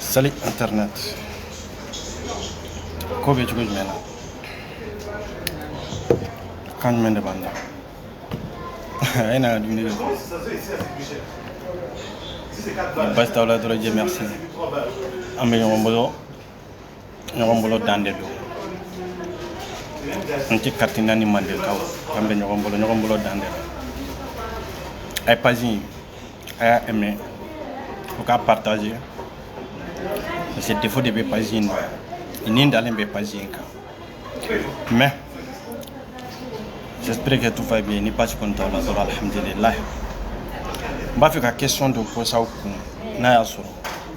Salut Internet. Ko bɛ cogo jumɛn na? Kan jumɛn de b'an da? A ye na ka dumuni kɛ. Basi t'aw la dɔrɔn je merci. An bɛ ɲɔgɔn bolo ɲɔgɔn bolo dan de don anti carte NINA mandenkaw an bɛ ɲɔgɔn bolo ɲɔgɔn bolo dan de don a ye pazi in a y'a ɛmɛ aw k'a partaze parce que defo de bɛ pazi in na i ni dalen bɛ pazi in kan Mais, j'espère que tout va bien. Ni basi kɔni t'aw la dɔrɔn alhamdulilayi. N b'a fɛ ka question dɔ poser aw kun n'a y'a sɔrɔ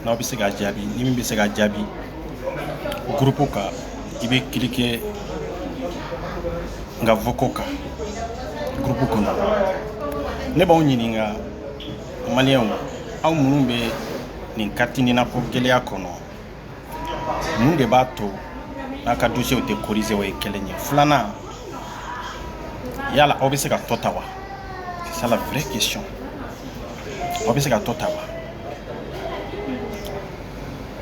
n'aw bɛ se k'a jaabi ni min bɛ se k'a jaabi groupe kan i bɛ cliquer n ka vocaux kan groupe kɔnɔ ne b'aw ɲininka maliyɛnw aw minnu bɛ nin carte NINA ko gɛlɛya kɔnɔ mun de b'a to n'a ka dosiyew tɛ korize o ye kelen ye filanan yala aw bɛ se ka to tan wa c'est ça la vraie question aw bɛ se ka to tan wa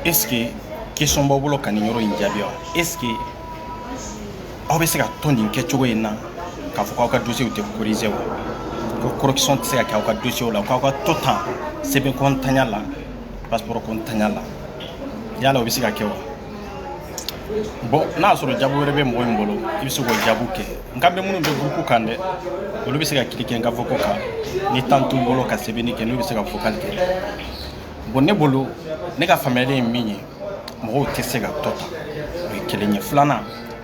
est ce que question b'aw bolo ka nin yɔrɔ in jaabi wa est ce que aw bɛ se ka to nin kɛcogo in na k'a fɔ k'aw ka dosiyew tɛ korize wa ko correction tɛ se ka kɛ aw ka dosiyew la k'aw ka to tan sɛbɛn ko ntanya la passeport ko ntanya la yala o bɛ se ka kɛ wa bon n'a y'a sɔrɔ jaabi wɛrɛ bɛ mɔgɔ min bolo i bɛ se k'o jaabi kɛ n ka bɛ minnu bɛ groupe kan dɛ olu bɛ se ka cliquer n ka vocaux kan ni tan t'u bolo ka sɛbɛnni kɛ n'u bɛ se ka vocal kɛ bon ne bolo ne ka faamuyali ye min ye mɔgɔw tɛ se ka to tan o ye kelen ye filanan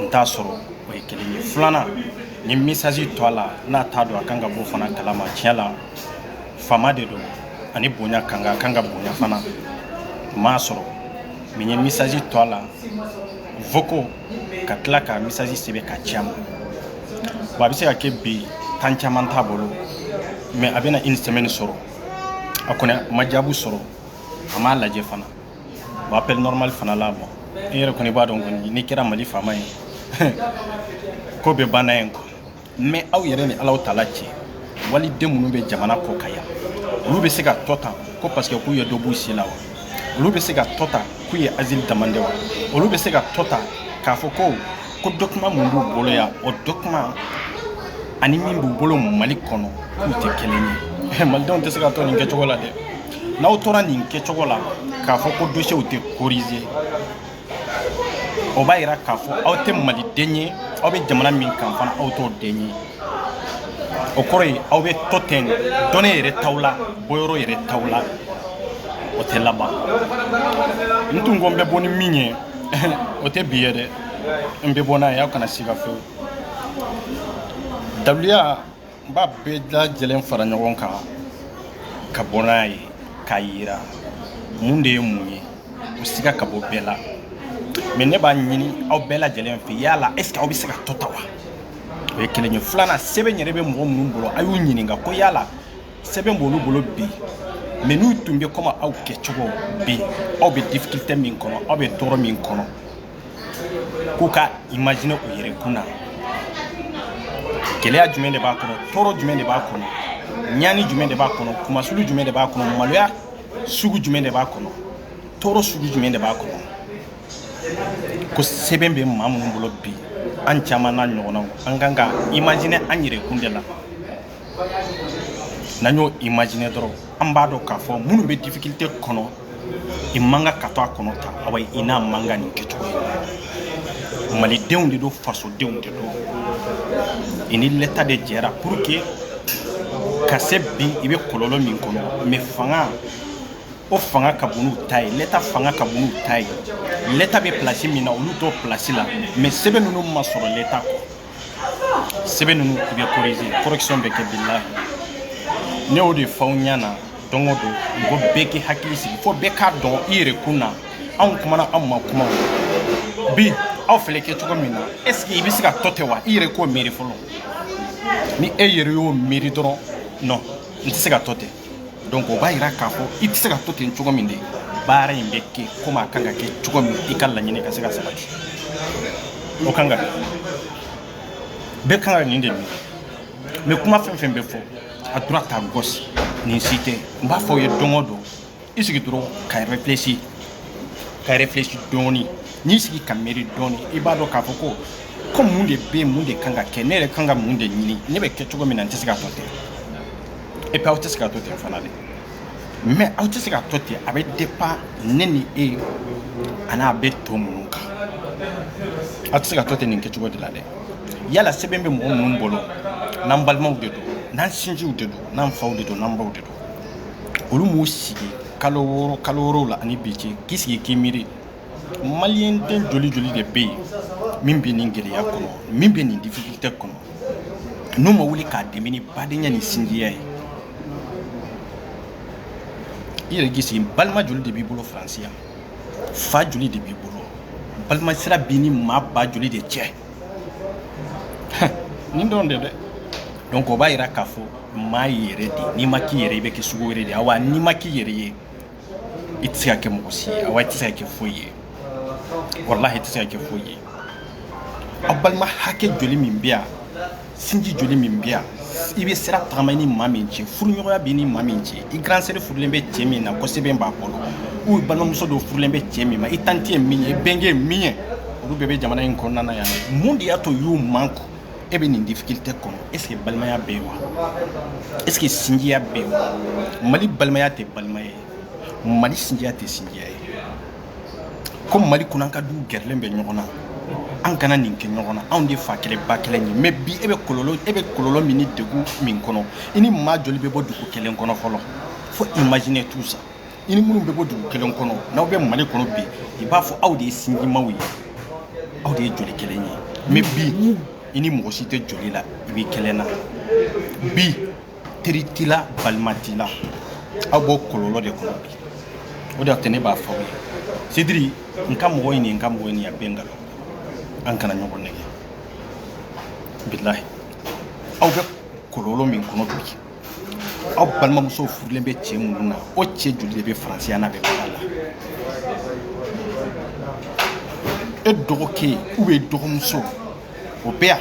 n t'a sɔrɔ o ye kelen ye filanan n ye message to a la n'a t'a dɔn a kan ka bɔ fana kalama tiɲɛ la faama de don ani bonya kan ka kan ka bonya fana m'a sɔrɔ mɛ n ye message to a la vocaux ka tila ka message sɛbɛn k'a ci a ma bon a bɛ se ka kɛ bi tan caman t'a bolo mɛ a bɛna une semaine sɔrɔ a kɔni ma jaabu sɔrɔ a m'a lajɛ fana appel normal fana la bon e yɛrɛ kɔni b'a dɔn kɔni ni kɛra mali faama ye ko bɛɛ banna yen ko mɛ aw yɛrɛ ni ala aw t'a lajɛ maliden minnu bɛ jamana kɔkan yan olu bɛ se ka to tan ko parce que k'u ye dɔ bɔ u si la wa olu bɛ se ka to tan k'u ye asile demander wa olu bɛ se ka to tan k'a fɔ ko ko document minnu b'u bolo yan o document ani min b'u bolo mali kɔnɔ k'u tɛ kelen ye malidenw tɛ se ka to nin kɛcogo la dɛ n'aw tora nin kɛcogo la k'a fɔ ko dosiyew tɛ korize o b'a yira k'a fɔ aw tɛ maliden ye aw bɛ jamana min kan fana aw t'o den ye o kɔrɔ ye aw bɛ to ten donni yɛrɛ t'aw la bɔyɔrɔ yɛrɛ t'aw la o tɛ laban n tun ko n bɛ bɔ ni min ye o tɛ bi ye dɛ n bɛ bɔ n'a ye aw kana siga fewu daliluya n b'a bɛɛ lajɛlen fara ɲɔgɔn kan ka bɔ n'a ye k'a yira mun de ye mun ye o siga ka bɔ bɛɛ la mɛ ne b'a ɲini aw bɛɛ lajɛlen fɛ yala est ce que aw bɛ se ka to tan wa o ye kelen ye filanan sɛbɛn yɛrɛ bɛ mɔgɔ minnu bolo a y'u ɲininka ko yala sɛbɛn b'olu bolo bi mɛ n'u tun bɛ kɔmi aw kɛcogo bi aw bɛ difficulté min kɔnɔ aw bɛ tɔɔrɔ min kɔnɔ k'u ka imagine u yɛrɛ kun na gɛlɛya jumɛn de b'a kɔnɔ tɔɔrɔ jumɛn de b'a kɔnɔ ɲani jumɛn de b'a kɔnɔ kunmasuuli jumɛn de b'a kɔnɔ maloya sugu jumɛn de b'a kɔnɔ tɔɔrɔ sugu jumɛn de b'a kɔnɔ ko sɛbɛn bɛ maa minnu bolo bi an caman n'an ɲɔgɔnnaw an kan ka imagine an yɛrɛ kun de la n'an y'o imagine dɔrɔn an b'a dɔn k'a fɔ minnu bɛ difficulté kɔnɔ i man kan ka to a kɔnɔ tan awa i n'a man kan nin kɛcogo ye malidenw de don fasodenw de don i ni lɛta de jɛra pour que ka se bi i bɛ kɔlɔlɔ min kɔnɔ mɛ fanga o fanga ka bon n'u ta ye lɛta fanga ka bon n'u ta ye lɛta bɛ pilasi min na olu t'o pilasi la mɛ sɛbɛn ninnu ma sɔrɔ lɛta kɔ sɛbɛn ninnu bɛ korize correction bɛ kɛ bilahi ne y'o de f'aw ɲɛ na don o don mɔgɔ bɛɛ k'i hakili sigi fo bɛɛ k'a dɔn i yɛrɛ kun na anw kumana anw ma kuma bi aw filɛ kɛcogo min na est ce que i bɛ se ka to ten wa i yɛrɛ k'o miiri fɔlɔ ni e yɛrɛ y'o miiri dɔrɔn non n tɛ se ka to ten donc o b'a yira k'a fɔ i tɛ se ka to ten cogo min de baara in bɛ kɛ komi a kan ka kɛ cogo min i ka laɲini ka se ka sabati o kan ka kɛ bɛɛ kan ka nin de miiri mɛ kuma fɛn fɛn bɛ fɔ à droite à gauche nin si tɛ n b'a fɔ aw ye don o don i sigi dɔrɔn ka réfléchi dɔɔni n'i sigi ka miiri dɔɔni i b'a dɔn k'a fɔ ko mun de bɛ yen mun de kan ka kɛ ne yɛrɛ kan ka mun de ɲini ne bɛ kɛ cogo min na n tɛ se ka to ten et puis aw tɛ se ka to ten fana de mɛ aw tɛ se ka to ten a bɛ dépend ne ni e ani a bɛ to minnu kan aw tɛ se ka to ten nin kɛcogo de la dɛ yala sɛbɛn bɛ mɔgɔ minnu bolo n'an balimaw de don n'an sinjiw de don n'an faw de don n'an baw de don olu m'u sigi kalo wɔɔrɔ la ani bi cɛ k'i sigi k'i miiri maliyɛn den joli joli de bɛ yen min bɛ nin gɛlɛya kɔnɔ min bɛ nin difficulté kɔnɔ n'u ma wuli k'a dɛmɛ ni badenya ni sinjiya ye i yɛrɛ k'i sigi balima joli de b'i bolo faransi yan fa joli de b'i bolo balima sira b'i ni maa ba joli de cɛ nin dɔrɔn de dɛ donc o b'a yira k'a fɔ maa y'i yɛrɛ de n'i ma k'i yɛrɛ i bɛ kɛ sugu wɛrɛ de ye awa n'i ma k'i yɛrɛ ye i tɛ se ka kɛ mɔgɔ si ye awa i tɛ se ka kɛ foyi ye walahi i tɛ se ka kɛ foyi ye aw balima hakɛ joli min bɛ yan sinji joli min bɛ yan i bɛ sira tagama ni maa min cɛ furuɲɔgɔnya b'i ni maa min cɛ i grande sœur furulen bɛ cɛ min na ko sɛbɛn b'a bolo ou balimamuso dɔ furulen bɛ cɛ min ma i tanti ye min ye i bɛnkɛ ye min ye olu bɛɛ bɛ jamana in kɔnɔna na yan mun de y'a to y'u man kɔ e bɛ nin difficulté kɔnɔ est-ce que balimaya bɛ yen wa est-ce que sinjiya bɛ yen wa mali balimaya tɛ balimaya ye mali sinjiya tɛ sinjiya ye ko mali kɔnɔ an ka du gɛrɛlen bɛ ɲɔgɔn na an kana nin kɛ ɲɔgɔn na anw de fa kelen ba kelen ye mais bi e bɛ kɔlɔlɔ min ni degun min kɔnɔ i ni maa joli bɛ bɔ dugu kelen kɔnɔ fɔlɔ faut imaginer tout ça i ni minnu bɛ bɔ dugu kelen kɔnɔ n'aw bɛ mali kɔnɔ bi i b'a fɔ aw de ye sinjimaw ye aw de ye joli kelen ye mais bi i ni mɔgɔ si tɛ joli la i b'i kelen na bi teri t'i la balima t'i la aw b'o kɔlɔlɔ de kɔnɔ bi o de y'a to ne b'a fɔ aw ye c'est-à-dire n ka mɔgɔ ɲini n ka mɔgɔ ɲini a bɛɛ nkalon an kana ɲɔgɔn nɛgɛn bilahi aw bɛ kɔlɔlɔ min kɔnɔ bi aw balimamusow furulen bɛ cɛ minnu na o cɛ joli de bɛ faransi yan n'a bɛ baara la e dɔgɔkɛ ou bien dɔgɔmuso o bɛ yan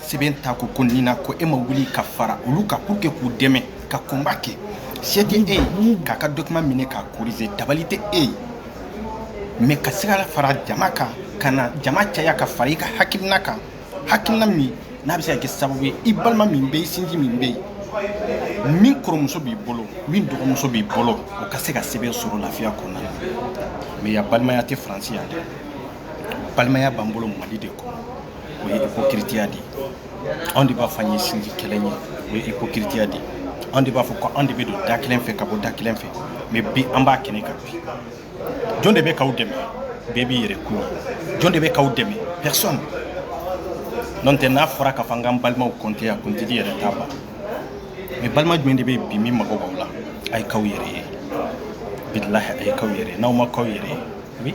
sɛbɛn t'a kun ko nin na ko e ma wuli ka fara olu kan pour que k'u dɛmɛ ka combat kɛ se tɛ e ye k'a ka document minɛ k'a corriger dabali tɛ e ye mais ka se ka fara jama kan ka na jama caya ka fara i ka hakilina kan hakilina min n'a bɛ se ka kɛ sababu ye i balima min bɛ yen i sinji min bɛ yen min kɔrɔmuso b'i bolo min dɔgɔmuso b'i bolo o ka se ka sɛbɛn sɔrɔ lafiya kɔnɔna na mais yan balimaya tɛ faransi yan dɛ balimaya b'an bolo mali de kɔnɔ o ye hipokiritiya de ye anw de b'a fɔ an ye sinji kelen ye o ye hipokiritiya de ye anw de b'a fɔ ko anw de bɛ don da kelen fɛ ka bɔ da kelen fɛ mais bi an b'a kɛnɛ kan bi jɔn de bɛ k'aw dɛmɛ bɛɛ b'i yɛrɛ kun jɔn de bɛ k'aw dɛmɛ personne n'o tɛ n'a fɔra k'a fɔ an k'an balimaw compter a kuntigi yɛrɛ t'a ban mais balima jumɛn de bɛ yen bi min mago b'aw la a ye k'aw yɛrɛ ye bilahi a ye k'aw yɛrɛ ye n'aw ma k'aw yɛrɛ ye oui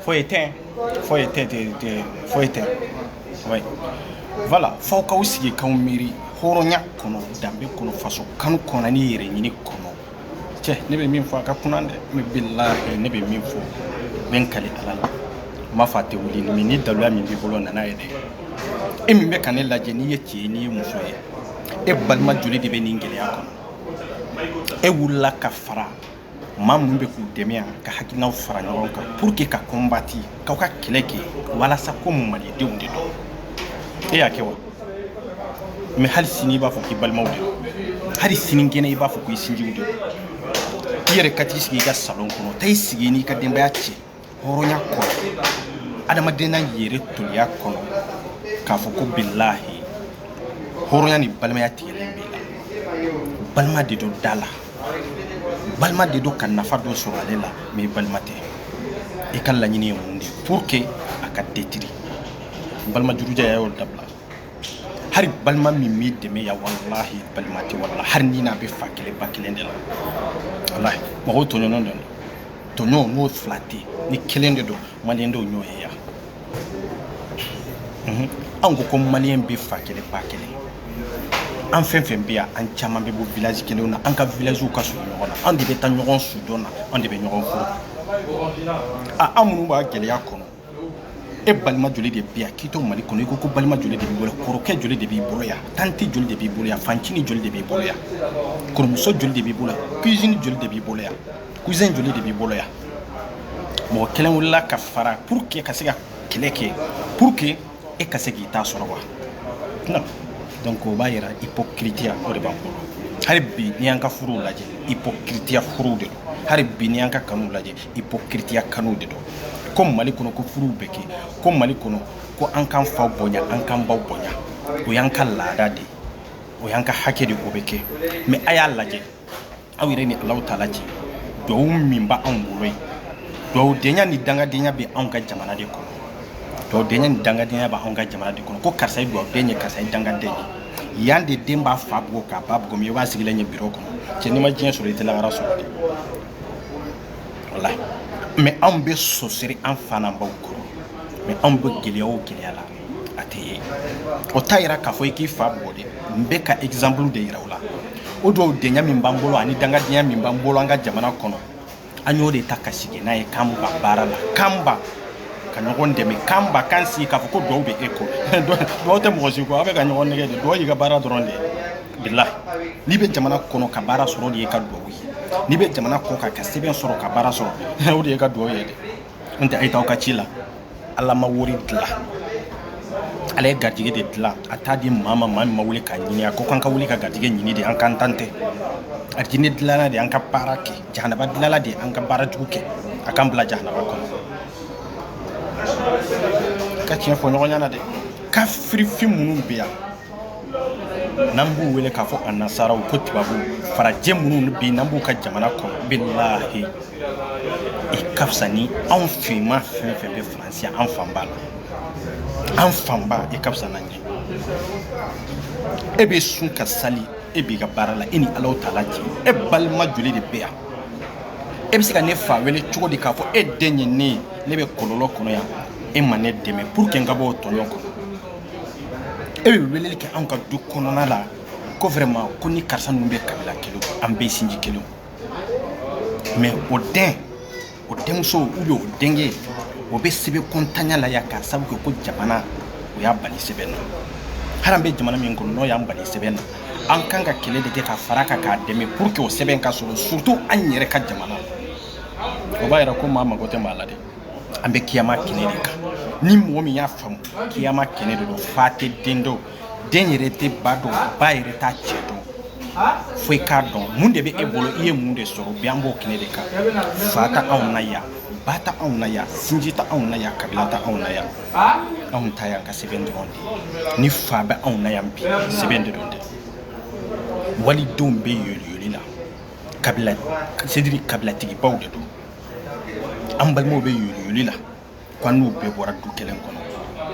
foyi tɛ foyi tɛ tɛ foyi tɛ voilà fo aw k'aw sigi k'aw miiri hɔrɔnya kɔnɔ danbe kɔnɔ faso kanu kɔnɔ ni yɛrɛ ɲini kɔnɔ cɛ ne bɛ min fɔ a ka kunan dɛ mais bilahi ne bɛ min fɔ n bɛ n kali ala la n m'a fɔ a tɛ wuli mais ni daluya min b'i bolo nana ye dɛ e min bɛ ka ne lajɛ n'i ye cɛ ye n'i ye muso ye e balima joli de bɛ nin gɛlɛya kɔnɔ e wulila ka fara maa minnu bɛ k'u dɛmɛ yan ka hakilinaw fara ɲɔgɔn kan pour que ka kɔnbati k'aw ka kɛlɛ kɛ walasa ko malidenw de don e y'a kɛ wa mais hali sini i b'a fɔ k'i balimaw de don hali sini kɛnɛ i b'a fɔ k'i sinjiw de don i yɛrɛ ka t'i sigi i ka salon kɔnɔ taa i sigi n'i ka denbaya cɛ hɔrɔnya kɔnɔ adamadenya yɛrɛ toliya kɔnɔ k'a fɔ ko bilahi hɔrɔnya ni balimaya tigɛlen b'i la balima de don da la balima de don ka nafa dɔ sɔrɔ ale la mais i balima tɛ i ka laɲini ye mun de ye pour que a ka detiri balima jurujɛ y'a y'o dabila hari balima min m'i dɛmɛ yan walahi balima tɛ walahi hari n'i n'a bɛ fa kelen ba kelen de la walahi mɔgɔw tɔɲɔgɔn don tɔɲɔgɔn n'o fila tɛ ni kelen de don maliyɛn dɔw ɲɔgɔn ye yan mhm. anw ko ko maliyɛn bɛ fa kelen ba kelen an fɛn fɛn bɛ yan an caman bɛ bɔ village kelenw na an ka villagew ka surun ɲɔgɔn na an de bɛ taa ɲɔgɔn sudon na an de bɛ ɲɔgɔn furu a an minnu b'a gɛlɛya kɔnɔ e balima joli de bɛ yan k'i to mali kɔnɔ i ko ko balima joli de b'i bolo yan kɔrɔkɛ joli de b'i bolo yan tante joli de b'i bolo yan fancinin joli de b'i bolo yan kɔrɔmuso joli de b'i bolo yan cousine joli de b'i bolo yan cousin joli de b'i bolo yan mɔgɔ kelen wulila ka fara pour que ka se ka kɛlɛ kɛ pour que e ka se k'i ta sɔrɔ wa non donc o b'a yira hypocritiya o de b'an bolo hali bi n'i y'an ka furuw lajɛ hypocritiya furuw de don hali bi n'i y'an ka kanuw lajɛ hypocritiya kanuw de don ko mali kɔnɔ ko furuw bɛ kɛ ko mali kɔnɔ ko an k'an faw bonya an k'an baw bonya o y'an ka laada de ye o y'an ka hakɛ de o bɛ kɛ mais a y'a lajɛ aw yɛrɛ ni alahu taala cɛ duwawu min b'anw bolo yen duwawudenya ni dangadenya bɛ anw ka jamana de kɔnɔ duwawudenya ni dangadenya bɛ anw ka jamana de kɔnɔ ko karisa ye duwawuden ye karisa ye dangaden ye yan de den b'a fa bugɔ k'a ba bugɔ mais i b'a sigilen ye biro kɔnɔ cɛ n'i ma diɲɛ sɔrɔ i tɛ lahara sɔrɔ dɛ walahi mais anw bɛ sonsoro an fa n'an baw kɔrɔ mais anw bɛ gɛlɛya o gɛlɛya la a tɛ ye o t'a yira k'a fɔ i k'i fa bugɔ dɛ n bɛ ka exemple de yira o la o duwawudenya min b'an bolo ani dangadenya min b'an bolo an ka jamana kɔnɔ an y'o de ta k'a sigi an ɲɛ k'an ban baara la k'an ban ka ɲɔgɔn dɛmɛ k'an ban k'an sigi k'a fɔ ko duwawu bɛ e kɔ duwawu tɛ mɔgɔ si kɔ aw bɛ ka ɲɔgɔn nɛgɛn de duwawu y'i ka baara dɔrɔn de ye bilahi n'i bɛ jamana kɔnɔ ka baara sɔrɔ de y'i ka duwawu ye n'i bɛ jamana kɔ kan ka sɛbɛn sɔrɔ ka baara sɔrɔ o de y'i ka duwawu ye dɛ n tɛ a ye t'aw ka ci la ala ma wari dilan ala ye garijɛgɛ de dilan a t'a di maa ma maa min ma wuli k'a ɲini a ko k'an ka wuli ka garijɛgɛ ɲini de an k'an tan tɛ arijinɛ dilanna de an ka baara kɛ jahanaba dilanna de an ka baara jugu kɛ a k'an bila jahanaba kɔnɔ an ka tiɲɛ fɔ ɲɔgɔn ɲɛna dɛ kafirifin minnu bɛ yan n'an b'u wele k'a fɔ a nasaraw ko tubabu farajɛ minnu bi n'an b'u ka jamana kɔnɔ bilahi i ka fisa ni anw finman fɛn fɛn bɛ faransi an fanba la an fanba i ka fisa n'an ye e bɛ sun ka sali e b'i ka baara la e ni alahu taala cɛ e balima joli de bɛ yan e bɛ se ka ne fa wele cogo di k'a fɔ e den ye ne ye ne bɛ kɔlɔlɔ kɔnɔ yan e ma ne dɛmɛ pour que n ka bɔ o tɔɲɔ kɔnɔ e bɛ weleli kɛ anw ka du kɔnɔna la ko vraiment ko ni karisa ninnu bɛ kabila kelen an bɛ sinji kelen mais o den o denmuso ou bien o denkɛ o bɛ sɛbɛnkontanya la yan k'a sabu kɛ ko jamana o y'a bali sɛbɛn na hali an bɛ jamana min kɔnɔ n'o y'an bali sɛbɛn na an kan ka kɛlɛ de kɛ ka fara kan k'a dɛmɛ pour que o sɛbɛn ka sɔrɔ surtout an yɛrɛ ka jamana o b'a yira ko maa mago tɛ maa la dɛ an bɛ kiyama kɛnɛ de kan ni mɔgɔ min y'a faamu kiyama kɛnɛ de don fa tɛ den dɔn den yɛrɛ tɛ ba dɔn ba yɛrɛ t'a cɛ dɔn fo i k'a dɔn mun de bɛ e bolo i ye mun de sɔrɔ bi an b'o kɛnɛ de kan fa t'anw na yan ba t'anw na yan sinji t'anw na yan kabila t'anw na yan anw ta y'an ka sɛbɛn dɔrɔn de ni fa bɛ anw na yan bi sɛbɛn de don dɛ walidenw bɛ yoliyoli la kabila c'est-à-dire kabilatigibaw de don an balimaw bɛ yoliyoli la ko an n'u bɛɛ bɔra du kelen kɔnɔ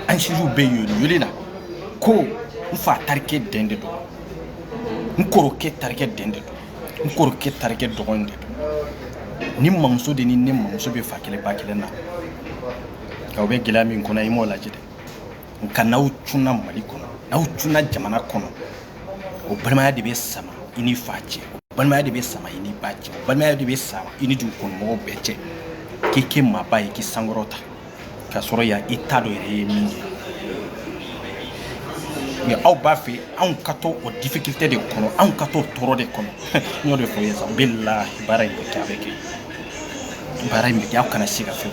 an sinjiw bɛ yoliyoli la ko n fa terikɛ den de don n kɔrɔkɛ terikɛ den de don n kɔrɔkɛ terikɛ dɔgɔnin de don nin mamuso de ni ne mamuso bɛ fa kelen ba kelen na nka u bɛ gɛlɛya min kɔnɔ i m'o lajɛ dɛ nka n'aw cunna mali kɔnɔ n'aw cunna jamana kɔnɔ o balimaya de bɛ sama i ni fa cɛ o balimaya de bɛ sama i ni ba cɛ o balimaya de bɛ sama i ni dugukɔnɔmɔgɔw bɛɛ cɛ k'i kɛ maaba ye k'i sankɔrɔta k'a sɔrɔ yan i t'a dɔn yɛrɛ ye min ye mais aw b'a fɛ anw ka to o difficulté de kɔnɔ anw ka to tɔɔrɔ de kɔnɔ n y'o de fɔ ye sa bilahi baara in bɛ kɛ a bɛ kɛ baara in bɛ kɛ aw kana se ka fɛn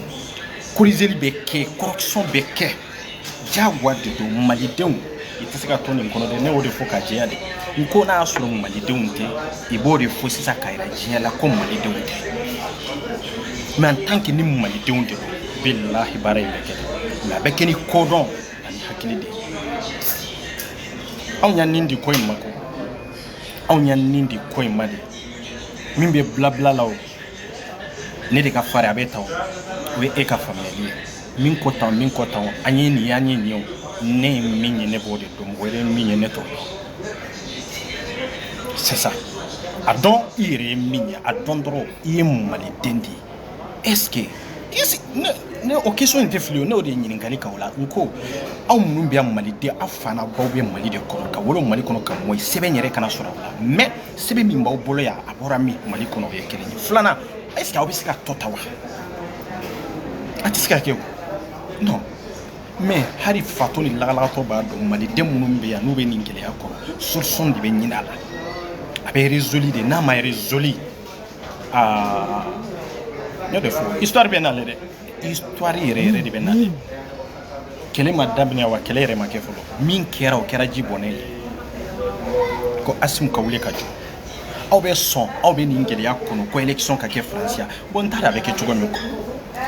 Corrigeli bɛ kɛ correction bɛ kɛ jagoya de don malidenw i tɛ se ka to nin kɔnɔ dɛ ne y'o de fɔ ka jɛya de n ko n'a y'a sɔrɔ malidenw tɛ i b'o de fɔ sisan k'a yira diɲɛ la ko malidenw tɛ mais en tant que ni malidenw de bilahi baara in bɛ kɛ nka a bɛ kɛ ni kodɔn ani hakili de anw y'an nin di ko in ma ko anw y'an nin di ko in ma de min bɛ blabla la o ne de ka fari a bɛ tan o ye e ka faamuyali ye min ko tan min ko tan an ye nin y'an ye nin ye ne ye min ye ne b'o de dɔn mɔgɔ wɛrɛ ye min ye ne t'o dɔn c'est ça a dɔn i yɛrɛ ye min ye a dɔn dɔrɔn i ye maliden de ye est ce que ne o question in tɛ fili o ne o de ye ɲininkali k'aw la n ko aw minnu bɛ yan maliden aw fa n'aw baw bɛ mali de kɔnɔ ka wolo mali kɔnɔ ka mɔ sɛbɛn yɛrɛ kana sɔrɔ aw la mais sɛbɛn min b'aw bolo yan a bɔra min mali kɔnɔ o ye kelen ye filanan est ce que aw bɛ se ka tɔ ta wa a tɛ se ka kɛ o non mais hali fatɔ ni lagalagatɔ b'a dɔn maliden minnu bɛ yan n'u bɛ nin gɛlɛya kɔrɔ solution de bɛ ɲini a la a bɛ résolu de n'a ma résolu aa n y'o de fɔ histoire bɛ n'ale dɛ histoire yɛrɛ yɛrɛ de bɛ na kɛlɛ ma daminɛ wa kɛlɛ yɛrɛ ma kɛ fɔlɔ min kɛra o kɛra ji bɔnɛ ye ko asimi ka wuli ka jɔ aw bɛ sɔn aw bɛ nin gɛlɛya kɔnɔ ko élection ka kɛ faransi yan bon n t'a dɔn a bɛ kɛ cogo min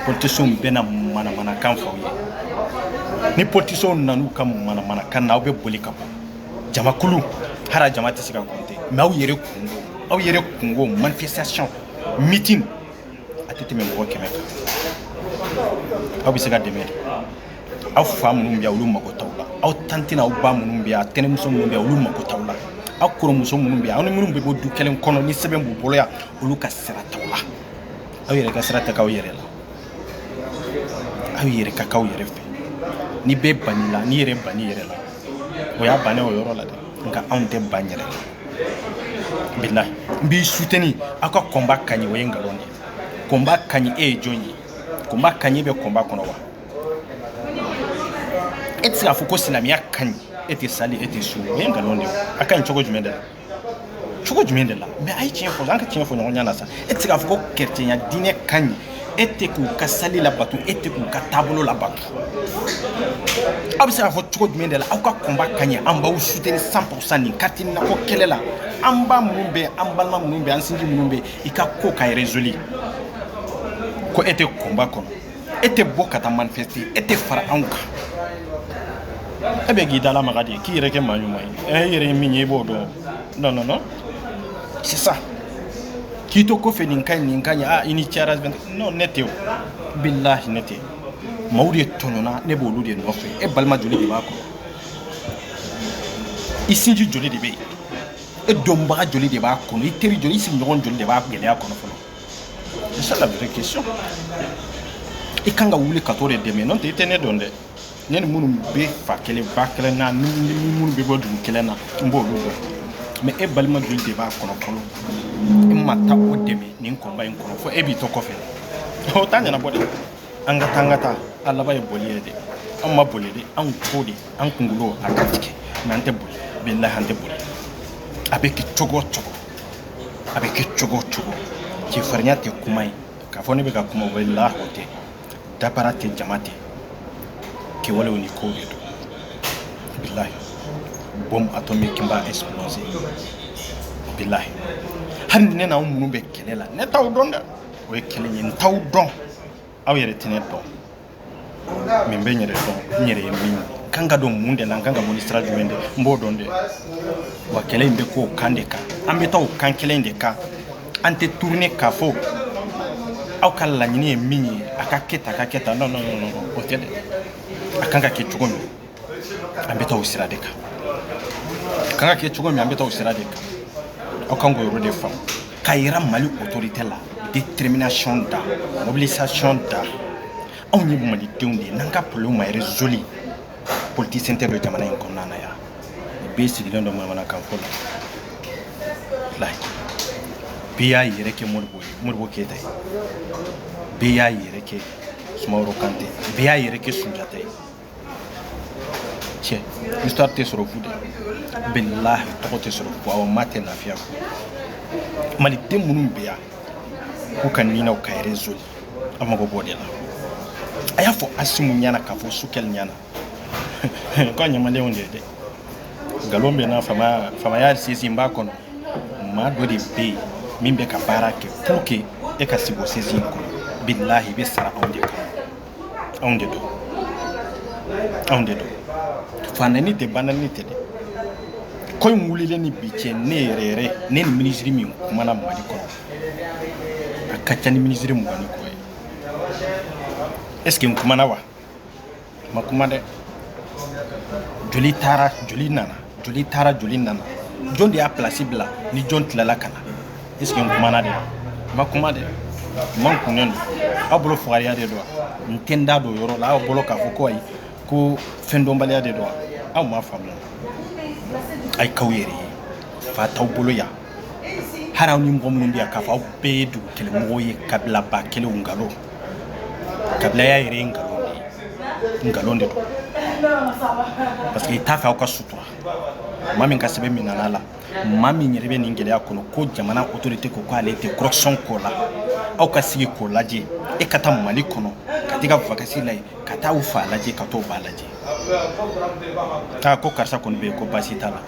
politicienw bɛ na manamanakan fɔ aw ye ni politicienw nan'u ka manamanakan na aw bɛ boli ka bɔ jamakulu hara jama tɛ se ka compter mais aw yɛrɛ kunko aw yɛrɛ kunko manifestation meeting a tɛ tɛmɛ mɔgɔ kɛmɛ kan aw bɛ se ka dɛmɛ de aw fa minnu bɛ yan olu mago t'aw la aw tanti n'aw ba minnu bɛ yan tɛnɛmuso minnu bɛ yan olu mago t'aw la aw kɔrɔmuso minnu bɛ yan aw ni minnu bɛ bɔ du kelen kɔnɔ ni sɛbɛn b'u bolo yan olu ka sira t'aw la aw yɛrɛ ka sira tɛ k'aw yɛrɛ la aw yɛrɛ ka k'aw yɛrɛ fɛ ni bɛɛ bann'i la n'i yɛrɛ bann'i yɛrɛ la o y'a bannen o yɔrɔ la dɛ nka anw tɛ ban yɛrɛ la bilahi n b'i soutenir aw ka combat ka ɲi o ye nkalon de ye combat ka ɲi e ye jɔn ye combat ka ɲi i bɛ combat kɔnɔ wa e tɛ se k'a fɔ ko silamɛya ka ɲi e tɛ sali e tɛ sun o ye nkalon de ye a ka ɲi cogo jumɛn de la cogo jumɛn de la mais a ye tiɲɛ fɔ an ka tiɲɛ fɔ ɲɔgɔn ɲɛ na sa e tɛ se k'a fɔ ko kerecɛnya diinɛ ka ɲi e tɛ k'u ka sali labato e tɛ k'u ka taabolo labato aw bɛ se k'a fɔ cogo jumɛn de la aw ka combat ka ɲi an b'aw soutenir cent pour cent nin carte nina ko kɛlɛ la an ba minnu bɛ an balima minnu bɛ an sinji minnu bɛ i ka ko ka résolu ko e tɛ combat kɔnɔ e tɛ bɔ ka taa manifester e tɛ fara anw kan e bɛ k'i da lamaga de ye k'i yɛrɛ kɛ maa ɲuman ye ɛ e yɛrɛ ye min ye i b'o dɔn non non non c'est ça k'i to kɔfɛ nin ka ɲi nin ka ɲi a i ni cɛra non ne tɛ o bilahi ne tɛ maaw de tɔɲɔna ne b'olu de nɔfɛ e balima joli de b'a kɔnɔ i sinji joli de bɛ yen e dɔnbaga joli de b'a kɔnɔ i teri joli i sigiɲɔgɔn joli de b'a gɛlɛya kɔnɔ fɔlɔ c'est ça la vraie question i kan ka wuli ka t'o de dɛmɛ n'o tɛ i tɛ ne dɔn dɛ ne ni minnu bɛ fa kelen ba kelen na ni minnu bɛ bɔ dugu kelen na n b'olu dɔn mais e balima joli de b'a kɔnɔ fɔlɔ e ma taa o dɛmɛ nin koba in kɔnɔ fo e b'i to kɔfɛ o t'a ɲɛnabɔ dɛ an ka taa an ka taa a laban ye boli ye dɛ an ma boli dɛ an ko de an kunkolo a ka tigɛ mais an tɛ boli bilahi an tɛ boli a bɛ kɛ cogo o cogo a bɛ kɛ cogo o cogo cɛfarinya tɛ kuma ye k'a fɔ ne bɛ ka kuma walahi o tɛ dabara tɛ jama tɛ kɛwalew ni kow de don bilahi bombe atomique n b'a exploser bilahi hali ne n'aw minnu bɛ kɛlɛ la ne t'aw dɔn dɛ o ye kelen ye n t'aw dɔn aw yɛrɛ tɛ ne dɔn mais n bɛ n yɛrɛ dɔn n yɛrɛ ye min ye n kan ka don mun de la n kan ka bɔ ni sira jumɛn de n b'o dɔn dɛ wa kɛlɛ in bɛ k'o kan de kan an bɛ taa o kan kelen de kan an tɛ tourner k'a fɔ aw ka laɲini ye min ye a ka kɛ tan a ka kɛ tan non non non o tɛ dɛ a kan ka kɛ cogo min an bɛ taa o sira de kan a kan ka kɛ cogo min an bɛ taa o sira de kan aw kan k'o yɔrɔ de faamu k'a yira mali autorité la détermination da mobilisation da anw ye malidenw de ye n'an ka problème ma résolue politicien tɛ don jamana in kɔnɔna na yan bɛɛ sigilen don manamanakan fɔ la layi bɛɛ y'a yɛrɛ kɛ modibo ye modibo keyita ye bɛɛ y'a yɛrɛ kɛ sumaworo kante bɛɛ y'a yɛrɛ kɛ sunjata ye cɛ histoire tɛ sɔrɔ fu de bilahi tɔgɔ tɛ sɔrɔ fu awɔ maa tɛ lafiya fu maliden minnu bɛ yan k'u ka ninaw ka réseau a mago b'o de la a y'a fɔ asimu ɲɛna k'a fɔ sukɛli ɲɛna ko a ɲamalenw de ye dɛ nkalon bɛ n na faamaya faamaya sɛsi b'a kɔnɔ maa dɔ de bɛ yen min bɛ ka baara kɛ pour que e ka sigi o sɛsi kɔnɔ bilahi i bɛ sara anw de kan anw de don anw de don fanɛni tɛ banɛni tɛ dɛ ko in wulilen ni bi cɛ ne yɛrɛ yɛrɛ ne ni minisiri min kumana mali kɔnɔ a ka ca ni minisiri mugan ni kɔ ye est ce que n kumana wa n ma kuma dɛ joli taara joli nana joli taara joli nana jɔn de y'a pilasi bila ni jɔn tilala ka na Est-ce que n kumana de n ma kuma de n makunnen don aw bolo fugariya de don wa n tɛ n da don yɔrɔ la aw bolo k'a fɔ ko ayi ko fɛn dɔnbaliya de don wa aw m'a faamuya a ye k'aw yɛrɛ ye fa t'aw bolo yan hali aw ni mɔgɔ minnu bɛ yan k'a fɔ aw bɛɛ ye dugu kelen mɔgɔw ye kabilaba kelenw nkalon kabilaya yɛrɛ ye nkalon de ye nkalon de don parce que i t'a fɛ aw ka sutura maa min ka sɛbɛn minɛna a la maa min yɛrɛ bɛ nin gɛlɛya kɔnɔ ko jamana autorité ko k'ale tɛ corruption ko la aw ka sigi k'o lajɛ e ka taa mali kɔnɔ ka t'i ka vacances la yen ka taa u fa lajɛ ka t'o ba lajɛ a ko karisa kɔni bɛ yen ko baasi t'a la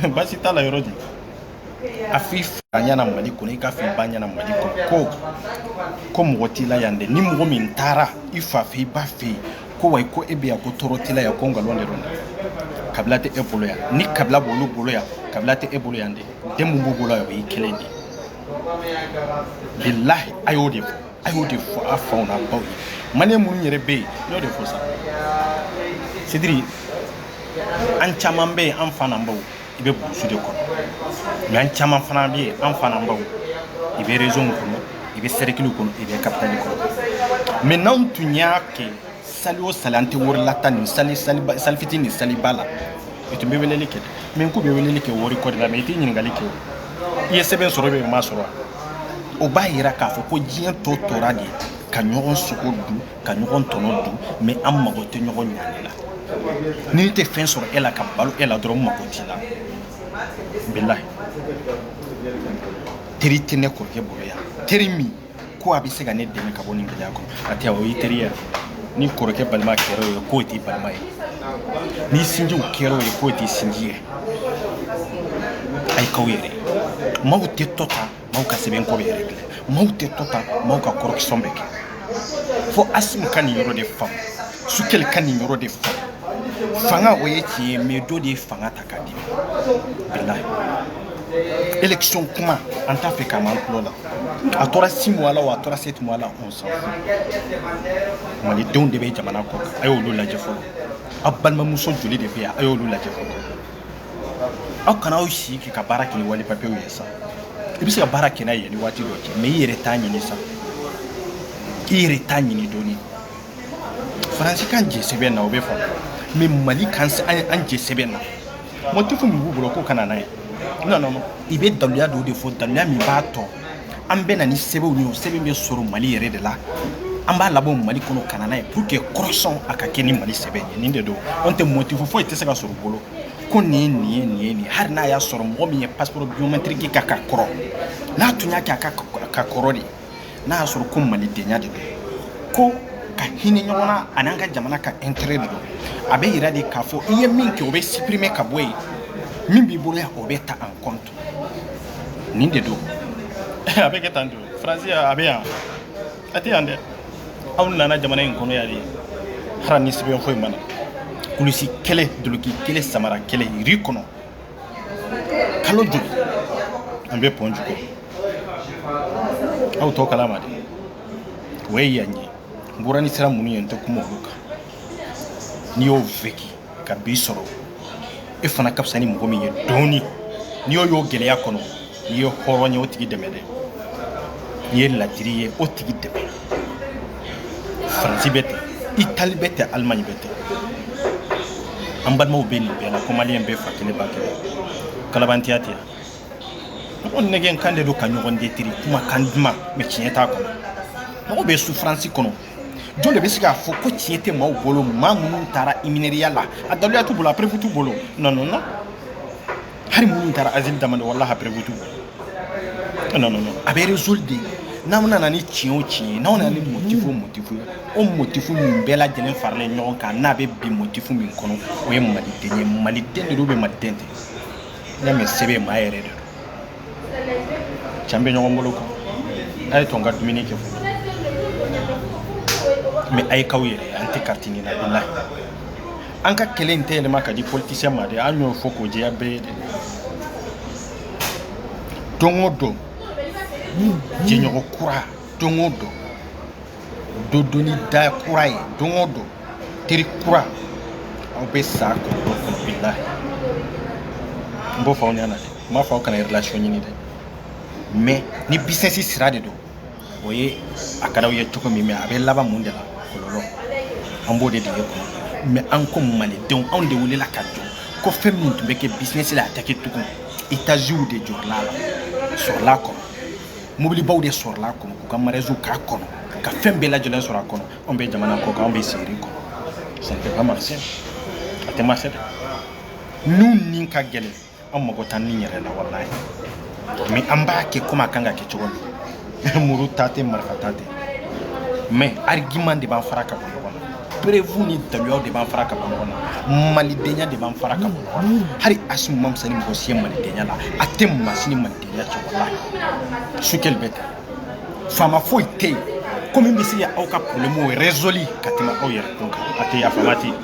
baasi t'a la yɔrɔ di a f'i fa ɲɛna mali kɔnɔ i k'a f'i ba ɲɛna mali kɔnɔ ko mɔgɔ t'i la yan dɛ ni mɔgɔ min taara i fa fɛ i ba fɛ yen ko wa ko e bɛ yan ko tɔɔrɔ t'i la yan ko nkalon de don kabila tɛ e bolo yan ni kabila b'olu bolo yan kabila tɛ e bolo yan dɛ den min b'u bolo yan o y'i kelen de ye bilahi a y'o de fɔ a y'o de fɔ a faw n'a baw ye maliyɛn minnu yɛrɛ bɛ yen n y'o de fɔ sa c'est-à-dire an caman bɛ yen an fa n'an baw i bɛ burusi de kɔnɔ mais an caman fana bɛ yen an fa n'an baw i bɛ rezonw kɔnɔ i bɛ sɛrikiliw kɔnɔ i bɛ kapitali kɔnɔ mais n'anw tun y'a kɛ sali o sali an tɛ wari lataa nin sali fitinin ni saliba la i tun bɛ weleli kɛ mais n ko bɛ weleli kɛ wari ko de la mais i tɛ ɲininkali kɛ i ye sɛbɛn sɔrɔ bɛ m'a sɔrɔ o b'a yira k'a fɔ ko diɲɛ tɔ tora de ka ɲɔgɔn sogo dun ka ɲɔgɔn tɔnɔ dun mais an mago tɛ ɲɔgɔn ɲani la ni tɛ fɛn sɔrɔ e la ka balo e la dɔrɔn mago t'i la bilahi teri tɛ ne kɔrɔkɛ bolo yan teri min ko a bɛ se ka ne dɛmɛ ka bɔ nin gɛlɛya kɔnɔ a tɛ o y'i teri ye ni kɔrɔkɛ balima kɛra ye k'o t'i balima ye ni sinjiw kɛra ye k'o t'i sinji ye a ye k'aw yɛrɛ maaw tɛ tɔ ta maaw ka sɛbɛn ko bɛ régler maaw tɛ to ta maaw ka correction bɛ kɛ fo Assimi ka nin yɔrɔ de faamu Choguel ka nin yɔrɔ de faamu fanga o ye tiɲɛ ye mais dɔ de ye fanga ta k'a di bilahi élection kuma an t'a fɛ k'a m'an tulo la a tora six mois la o a tora sept mois la on s'en fout malidenw de bɛ jamana kɔkan a y'olu lajɛ fɔlɔ a balimamuso joli de bɛ yan a y'olu lajɛ fɔlɔ aw kana aw sigi ka baara kɛ ni wali papiyew ye sa i bɛ se ka baara kɛ n'a ye ni waati dɔ cɛ mais i yɛrɛ t'a ɲini sa i yɛrɛ t'a ɲini dɔɔni faransi k'an jɛ sɛbɛn na o bɛ faamu mais mali k'an jɛ sɛbɛn na motif min b'u bolo k'o kana n'a ye non non i bɛ daluya dɔw de fɔ daluya min b'a to an bɛ na ni sɛbɛnw ye o sɛbɛn bɛ sɔrɔ mali yɛrɛ de la an b'a labɔ mali kɔnɔ ka na n'a ye pour que correction a ka kɛ ni mali sɛbɛn ye nin de don an tɛ motifu foyi tɛ se ka sɔrɔ u bolo ko nin ye nin ye nin ye nin ye hali n'a y'a sɔrɔ mɔgɔ min ye passeport biométrique ka ka kɔrɔ n'a tun y'a kɛ a ka ka kɔrɔ de n'a y'a sɔrɔ ko malidenya de don ko ka hinɛ ɲɔgɔn na an'an ka jamana ka intérêt de don a bɛ yira de k'a fɔ i ye min kɛ o bɛ supprimer ka bɔ yen min b'i bolo yan o bɛ ta en compte Nin de don a bɛ kɛ tan de fransi a bɛ yan a tɛ yan dɛ aw nana jamana in kɔnɔ yan de hali ni sɛbɛn foyi ma na kulusi kelen duloki kelen samara kelen rue kɔnɔ kalo joli an bɛ pɔn jukɔrɔ aw tɔ kalama de o ye yan ye n bɔra ni sira minnu ye n tɛ kuma olu kan n'i y'o vécu ka bi sɔrɔ e fana ka fisa ni mɔgɔ min ye dɔɔni n'i y'o ye gɛlɛya kɔnɔ n'i ye hɔrɔn ye o tigi dɛmɛ dɛ n'i ye ladiri ye o tigi dɛmɛ faransi bɛ ten itali bɛ ten alimaɲi bɛ ten an balimaw bɛ nin bɛɛ la ko maliyɛn bɛɛ fa kelen ba kelen kalabantiya tɛ yan mɔgɔ nɛgɛn kan de don ka ɲɔgɔn détruire kuma kan duman mais tiɲɛ t'a kɔnɔ mɔgɔ bɛ souffrance kɔnɔ jɔn de bɛ se k'a fɔ ko tiɲɛ tɛ maaw bolo maa minnu taara iminɛriya la a daliluya t'u bolo a preuve t'u bolo non non non hali minnu taara asile demander walahi a preuve t'u bolo non non non a bɛ résolu de n'aw nana ni tiɲɛ o tiɲɛ ye n'aw nana ni motifu o motifu ye o motifu min bɛɛ lajɛlen faralen ɲɔgɔn kan n'a bɛ bin motifu min kɔnɔ o ye maliden ye maliden de don bɛ maliden tɛ n'i y'a mɛn sɛbɛn maa yɛrɛ de don cɛn bɛ ɲɔgɔn bolo kan a ye to n ka dumuni kɛ fɔlɔ mais a ye k'aw yɛrɛ an tɛ carte ɲini na bilahi an ka kɛlɛ in tɛ yɛlɛma ka di politicien ma dɛ an y'o fɔ k'o jɛya bɛɛ ye dɛ don o don jɛɲɔgɔn kura don o don don doni da kura ye don o don teri kura aw bɛ sa kɔlɔlɔ kɔnɔ bilahi n b'o fɔ aw ɲɛna dɛ n b'a fɔ aw kana relation ɲini dɛ mais ni business sira de don o ye a ka d'aw ye cogo min mais a bɛ laban mun de la kɔlɔlɔ an b'o de dege kɔnɔ mais an ko malidenw anw de welela ka jɔ ko fɛn min tun bɛ kɛ business la a tɛ kɛ tugun etaziw de jɔrɔla la sɔrɔla a kɔnɔ mobilibaw de sɔrɔla a kɔnɔ k'u ka mariyaziw k'a kɔnɔ ka fɛn bɛɛ lajɛlen sɔrɔ a kɔnɔ anw bɛ jamana kɔ kan anw bɛ seri kɔnɔ ça ne peut pas marcher a tɛ marcher dɛ n'u ni ka gɛlɛn an mago t'an ni yɛrɛ la walayi mais an b'a kɛ comme a kan ka kɛ cogo min muru ta tɛ marifa ta tɛ mais argument de b'an fara ka bɔ ɲɔgɔn na preuve ni daluyaw de b'an fara ka bɔ ɲɔgɔn na malidenya de b'an fara ka bɔ ɲɔgɔn na hali asimi man fisa ni mɔgɔ si ye malidenya la a tɛ masini malidenya Ne cɛkɔrɔba su kelen bɛ kan faama foyi tɛ yen ko min bɛ se ka aw ka problème résolue ka tɛmɛ aw yɛrɛ kun kan a tɛ yen a faama tɛ yen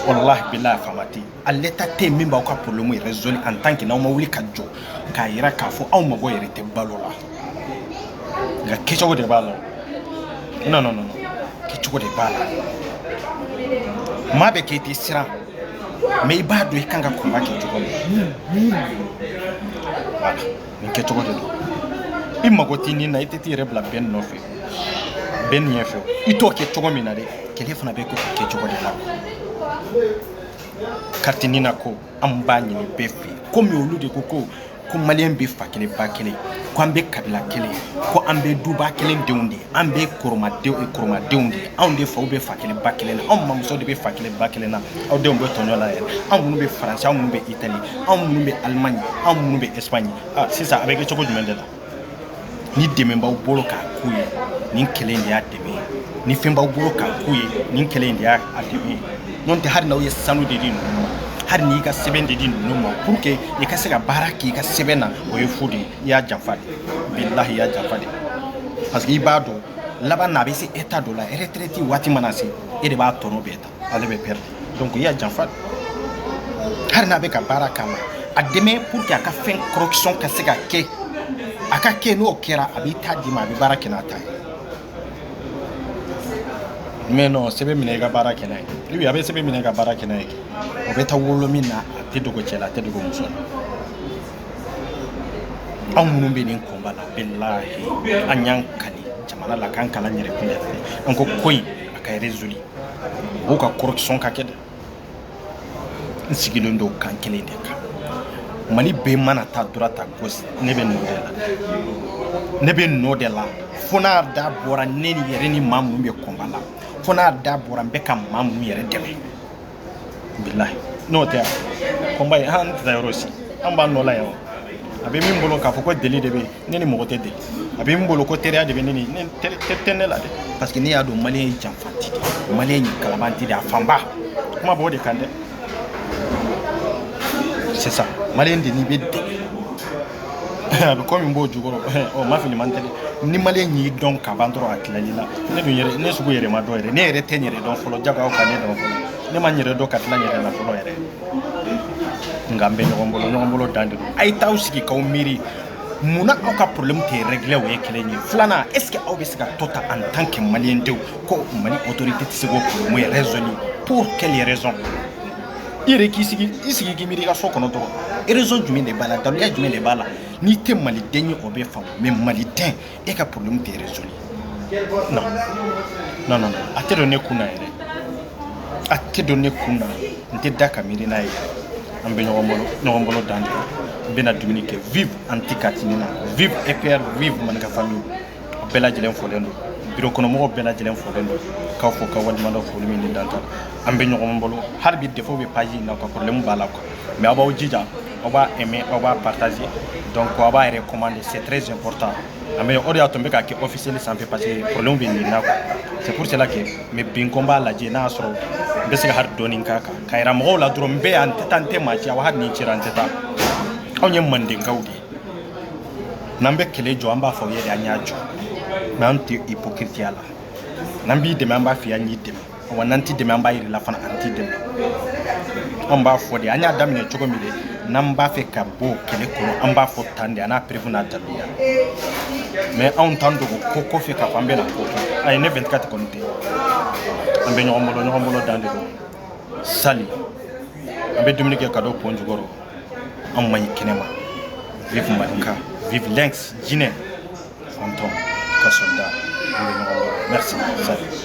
walahi bilahi a faama tɛ yen a l'état tɛ yen min b'aw ka problème résolue en tant que n'aw ma wuli ka jɔ k'a yira k'a fɔ aw mago yɛrɛ tɛ balo la nka kɛcogo de b'a la non non non kɛcogo de b'a la maa bɛ k'i tɛ siran mais i b'a dɔn i kan ka combat kɛ cogo min voilà nin kɛcogo de don i mago tɛ nin na i tɛ t'i yɛrɛ bila bɛn nɔfɛ bɛn ɲɛ fɛ i t'o kɛ cogo min na dɛ kɛlɛ fana bɛ kɛ o kɛcogo de la carte nin na ko an b'a ɲini bɛɛ fɛ yen komi olu de ko ko ko maliyɛn bɛɛ fa kelen ba kelen ko an bɛɛ kabila kelen ko an bɛɛ duba kelen denw de an bɛɛ koromadenw de anw de faw bɛ fa kelen ba kelen na anw mamuso de bɛ fa kelen ba kelen na aw denw bɛ tɔɲɔ la yɛrɛ anw minnu bɛ faransi anw minnu bɛ itali anw minnu bɛ alimaɲi anw minnu bɛ ɛsipaɲi ah, sisan a bɛ kɛ cogo jumɛn de la ni dɛmɛ b'aw bolo k'a k'u ye nin kɛlɛ in de y'a dɛmɛ ye ni fɛn b'aw bolo k'a k'u ye nin kɛlɛ in de y'a dɛmɛ ye n'o tɛ hali n'aw ye sanu de di ninnu ma hali n'i ka sɛbɛn de di ninnu ma pour que i ka se ka baara k'i ka sɛbɛn na o ye fu de ye i y'a janfa de bilahi i y'a janfa de parce que i b'a dɔn laban na a bɛ se état dɔ la retraite waati mana se e de b'a tɔnɔ bɛɛ ta ale bɛ perdre donc i y'a janfa hali n'a bɛ ka baara k'a la a dɛmɛ pour que a ka fɛn correction ka se ka kɛ a ka kɛ n'o kɛra a b'i ta d'i ma a bɛ baara kɛ n'a ta ye mais non sɛbɛn minɛ i ka baara kɛ n'a ye i bi a bɛ sɛbɛn minɛ i ka baara kɛ n'a ye o bɛ taa wolo min na a tɛ dogo cɛ la a tɛ dogo muso la anw minnu bɛ nin combat la bilahi an y'an kali jamana la k'an kali an yɛrɛ kun yɛrɛ an ko ko in a ka résoudre o ka correction ka kɛ dɛ n sigilen don kan kelen de kan mali bɛɛ mana taa droite à gauche ne bɛ nɔ de la ne bɛ nɔ de la fo n'a da bɔra ne ni yɛrɛ ni maa minnu bɛ combat la fo n'a da bɔra n bɛ ka maa minnu yɛrɛ dɛmɛ bilahi n'o tɛ combat in an tɛ taa yɔrɔ si an b'a nɔ la yan a bɛ min bolo k'a fɔ ko deli de bɛ yen ne ni mɔgɔ tɛ deli a bɛ min bolo ko teriya de bɛ yen nin tɛ ne la dɛ parce que ne y'a dɔn maliyɛn ye janfanti de maliyɛn ye kalabanti de a fanba kuma b'o de kan dɛ c'est ça maliyɛn de n'i bɛ deli a bɛ komi n b'o jukɔrɔ ɔ ma fili man tɛ dɛ ni maliyɛn y'i dɔn ka ban dɔrɔn a tilala i la ne dun yɛrɛ ne sugu yɛrɛ ma dɔn yɛrɛ ne yɛrɛ tɛ n yɛrɛ dɔn fɔlɔ janko aw ka ne dɔn fɔlɔ ne ma n yɛrɛ dɔn ka tila n yɛrɛ la fɔlɔ yɛrɛ nka n bɛ ɲɔgɔn bolo ɲɔgɔn bolo dan de don a ye t'aw sigi k'aw miiri mun na aw ka problème tɛ régler o ye kelen ye filanan est ce que aw bɛ se ka to ta en tant que maliyɛn denw ko mali autorité tɛ se k'o problème ye résolu pour quelle raison i yɛrɛ k'i sigi i sigi k'i miiri i ka so kɔnɔ dɔrɔn raison jumɛn de b'a la daluya jumɛn de b'a la n'i tɛ maliden ye o bɛ faamu mais maliden e ka problème tɛ résoudre non non non a tɛ don ne kun na yɛrɛ a tɛ don ne kun na n tɛ da ka miiri n'a ye an bɛ ɲɔgɔn bolo ɲɔgɔn bolo dan de n bɛna dumuni kɛ vive anti katini na vive epr vive manika famille a bɛɛ lajɛlen folen don biro kɔnɔmɔgɔw bɛɛ lajɛlen folen don k'aw fo ka waleɲumandɔn foli min ni dan ta an bɛ ɲɔgɔn bolo hali bi défaut bɛ page in na quoi problème b'a la quoi mais aw b'aw jija aw b'a aimer aw b'a partager donc aw b'a recommander c'est très important an bɛ o de y'a to n bɛ k'a kɛ officiel sanfɛ parce que problème bɛ nin na quoi c'est pour cela que mais bi n ko n b'a lajɛ n'a y'a sɔrɔ n bɛ se ka hali dɔɔni k'a kan ka yira mɔgɔw la dɔrɔn n bɛ yan n tɛ taa n tɛ maa ci aw hali ni n cira n tɛ taa anw ye mandenkaw de ye n'an bɛ kɛlɛ jɔ an b'a fɔ aw ye de an y'a jɔ mais an tɛ hypocriteya la n'an b'i dɛmɛ an b'a f'i ye an y'i dɛmɛ wa n'an t'i dɛmɛ an b'a yir'i la fana an t'i dɛmɛ an b'a fɔ de an y'a daminɛ cogo min de n'an b'a fɛ ka bɔ kɛlɛ kɔnɔ an b'a fɔ tan de an n'a preuve n'a daluya mais anw t'an dogo ko kɔfɛ k'a fɔ an bɛna ko kɛ ayi ne 24 kɔni tɛ an bɛ ɲɔgɔn bolo ɲɔgɔn bolo dan de don sali an bɛ dumuni kɛ ka don pɔn jukɔrɔ an man ɲi kɛnɛma vive manika vive lynx jinɛ fantôme ka soldat an bɛ ɲɔgɔn bolo merci sali